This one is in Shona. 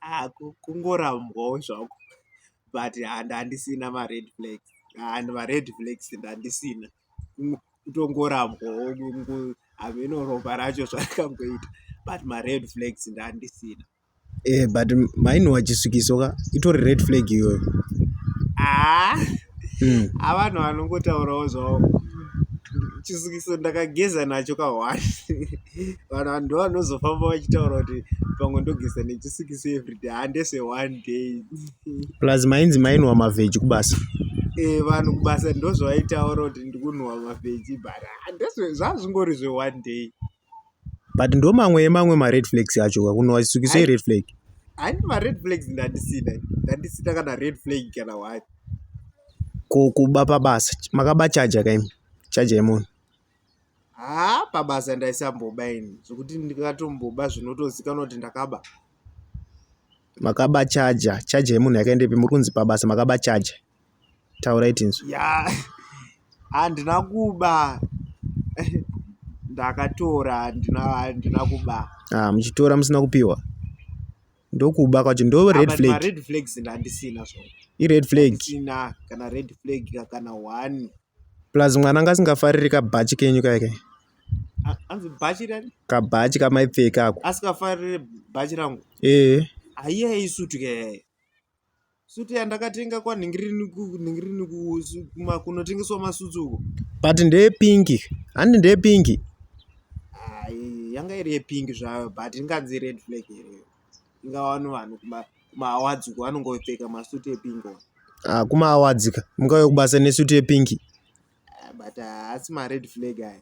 ah, kungorambwawo zvako but handandisina mared flags and mared flags ndandisina kutongorambwawo hameno ropa racho zvarakangoita but mared flags ndandisina e eh, but maini wachisvikiso ka itori red flag iyoyo aa ah, hmm. avanhu ah, vanongotaurawo zvavo chisukiso ndakageza nacho kahwani vanhu vanhu ndovanozofamba vachitaura kuti pamwe ndogeza nechisikisi everyday handese one day plus mainzi mainwa mavheji kubasa e, vanhu kubasa ndozvavaitaura kuti ndikunhuwa mavheji but zvazvingori zveone day but ndo mamwe emamwe mared flags acho kakunhuwa chisikiso ired flag haini mared flags ndandisina ndandisina kana red flag kana wati ko kuba pabasa makaba chaja kaimi chaja yemunhu haa pabasa ndaisamboba ini zvekuti ndikatomboba zvinotozikanwa kuti ndakaba makaba chaja chaja yemunhu yakaendepi muri kunzi pabasa makaba chaja taurai tinzwi ya handina kuba ndakatora handina handina kuba ah muchitora musina kupiwa ndokuba kwacho ndo ah, red flag red flags ndandisina zvo i red flag kana red flag kana one Plus mwana anga asingafariri kabhachi kenyu kaye kaye. Anzi bhachi rani? Kabhachi kamaipfeka ako. Asikafariri bhachi rangu? Eh. Aiya isutu kaye. Sutu yandakatenga kwanhingirini kunhingirini kunotengeswa masutsu uko. But ndeye pinki. Handi ndeye pinki. Ai yanga iri yepinki zvayo but inganzi red flag here. ingawani vanhu kumaawards uko vanonge vopfeka masuti epingi ah, kumaawards ka mungauya kubasa nesuti yepinki ah, but ah, haasi mared flag aya